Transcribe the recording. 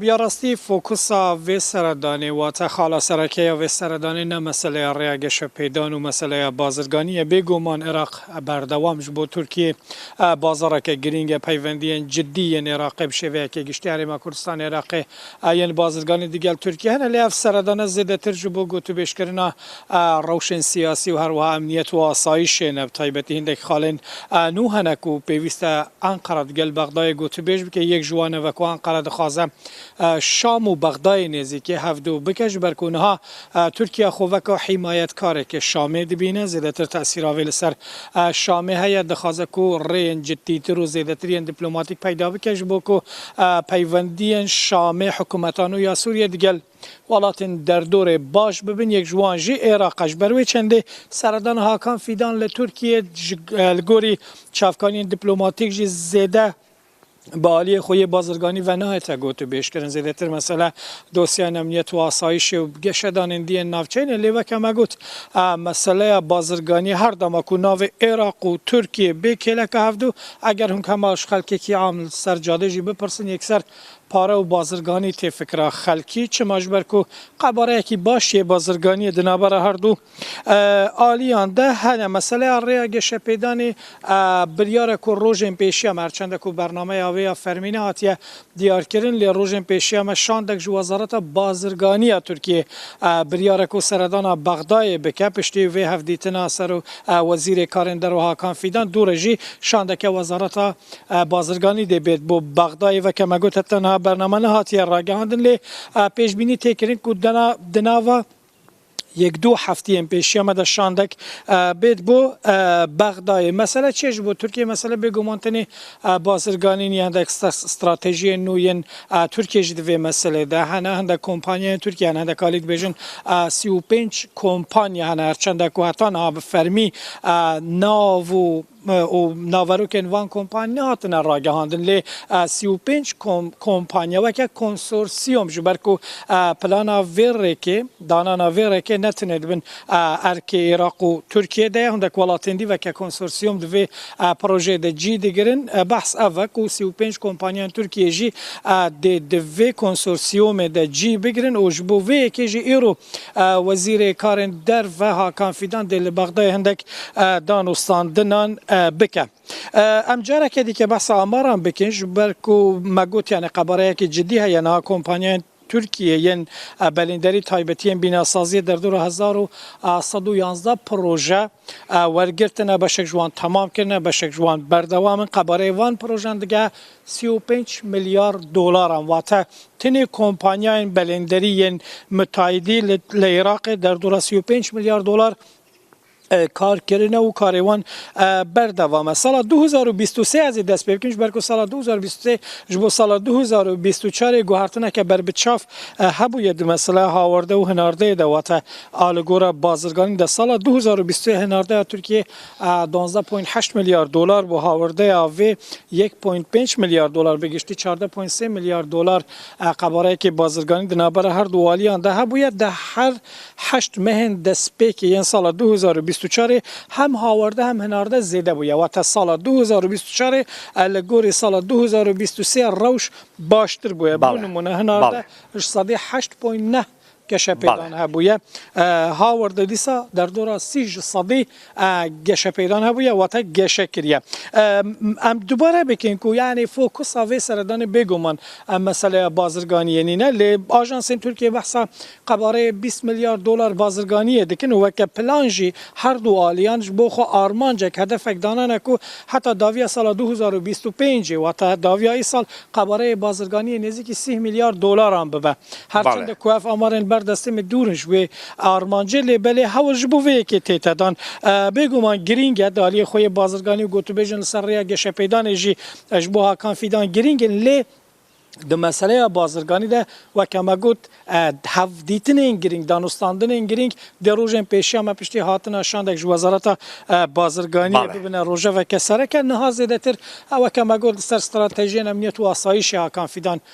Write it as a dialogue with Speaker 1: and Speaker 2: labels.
Speaker 1: Ya rastî fokusa vê seredanê wate xala sereke ya vê seredanê ne meseleya rêya geşepêdan û meseleya bazirganî ye. Bêguman Iraq berdewam ji bo Tirkiyê bazareke girîng e. Peywendiyên cidî yên Iraqê bi şêveyeke giştî Herêma Kurdistanê Iraqê yên bazirganî digel Tirkiyê hene. Lê ev seredane zêdetir ji bo gotûbêjkirina Rewşên siyasî û her wiha emniyet û asayîşê ne bi taybetî hindek xalên nû hene ku pêwîst e Enqera di gel Bexdayê gotûbêj bike. Yek ji wan ev e ku Enqera dixwaze Şam û Bexdayê nêzîkê hev du bike ji ber ku niha Tirkiye xwe weka hîmayetkarekê Şamê dibîne. Zêdetir tesîra vê li ser Şamê heye. Dixwaze ku rêyên ciddîtir û zêdetir yên diplomatîk peyda bike ji bo ku peywendiyên Şamê, hikûmeta nû ya Sûriyê di gel. Welatên derdorê baş bibin, yek ji wan jî Êraq e. Ji ber wê çendê seredana Hakan Fîdan li Tirkiyê li gorî çavkaniyên diplomatîk jî zêde bi aliyê xwe yê bazirganî ve nahête gotûbêjkirin. Zêdetir mesele dosyayên emniyet û asayîşê û geşedanên diyên navçeyên e. Lê weke me got meseleya bazirganiyê her dema ku navê Êraq û Tirkiyê bê kêleka hevdu. Eger hûn hema ji xelkekî am li ser cadê jî bipirsin yekser Pare û bazirganî tê fikira xelkî çima ji ber ku qebareyekî baş yê bazirganiyê di navbera her du aliyan de hene. Meseleya rêya geşepêdanê biryare ku rojên pêşiya me her çende ku bernameya wê ya fermî nehatiye diyarkirin lê rojên pêşiya me şandek ji Wezareta Bazirganiya Tirkiyê biryare ku seredana Bexdayê bike piştî vê hevdîtina ser û Wezîrê Karên Derve Hakan Fîdan dûre jî şandeke Wezareta Bazirganî dê bêrt bo Bexdayê veke me got heta niha bername nehatiye ragihandin lê pêşbînî tê kirin ku di nava yek du hefteyên pêşiya me de şandek bêt bo Bexdayê. Mesele çi ye ji bo Tirkiyeyê? Mesele bêguman tenê bazirganîn ye. Hindek stratejiyên nû yên Tirkiyeyê jî di vê meselê de hene. Hindek kompanyayên Tirkiyê hene. Hindek alî dibêjin sî û pênc kompanya hene. Her çend e ku heta niha bi fermî nav û û naverokên van kompanî nehatine ragihandin lê sî û pênc kompanî weke konsorsîyom ji ber ku plana vê rêkê danana vê rêkê ne tenê di bin erkê Iraq û Tirkiyê de ye hundek welatên dî weke konsorsîyom di vê projeyê de cî digirin. Behs ev e ku sî û pênc kompanîyên Tirkiyê jî dê di vê konsorsîyomê de cî bigirin û ji bo vê yekê jî îro Wezîrê Karên Derve Hakan Fîdan dê li Bexdayê hundek danûstandinan bike. Em careke dîke behsa amaran bikin ji ber ku me got yanî qebareyekî cidî heye niha kompanyayên Tirkiyê yên belînderî taybetî yên bînasaziyê derdora hezar û sed û yanzdeh proje wergirtine, beşek ji wan temam kirine, beşek ji wan berdewam in. Qebareyê van projen dige sî û pênc milyar dolaran wate tenê kompanyayên belênderî yên mitayidî li Iraqê derdora sî û pênc milyar dolar Kar kirine û karê wan berdewam e. Sala du hezar û bîst û sê ez ê dest pê bikim ji ber ku sala du hezar û bîst û sê ji bo sala du hezar û bîst û çar ê guhertineke ber bi çav hebûye di mesela hawarde û hinardeyê de wate a li gora bazirganî de sala du hezar û bîst û sê hinardeya Tirkiyeyê duwazdeh point heşt milyar dolar bû hawardeya vê yek point pênc milyar dolar bi giştî çardeh point sê milyar dolar qebareyekê bazirganî di navbera herdu waliyan de hebûye di her Heşt mehên destpêkê yên sala du hezar û bîst û çarê hem hawarde hem hinarde zêde bûye. Wate sala du hezar û bîst û çarê e li gorî sala du hezar û bîst û sê rewş baştir bûye. Bû nimûne hinarde ji sedê heşt point neh keşepêdan hebûye. Hawarde dîsa derdora sî ji sedê A geşepeydan hebûye wate geşe kiriye. Em dubare bikin ku yanî fokusa vê seredanê bêguman em meseleya bazirganiyê nîne lê ajansên Tirkiyeyê behsa qebareyê bîst milyar dolar bazirganiyê dikin û weke plan jî her du aliyan ji bo xwe armancek hedefek danane ku heta daviya sala du hezar û bîst û pêncê wate daviya îsal qebareyê bazirganiyê nêzîkî sîh milyar dolaran bibe. Her çend ku ev amarên ber destê min dûr in ji wê Armancê lê belê hewl ji bo vê yekê tê tedan. Bêguman girîng e di aliyê xwe yê bazirganî û gotûbêjin li ser rêya geşepêdanê jî ji bo Hakan Fîdan girîng in lê di meseleya bazirganî de weke me got hevdîtinên girîng, danûstandinên girîng dê rojên pêşiya me piştî hatina şandek ji Wezareta Bazirganiyê bibine rojeveke sereke. Niha zêdetir weke me got li ser stratejiyên emniyet û asayîşê Hakan Fîdan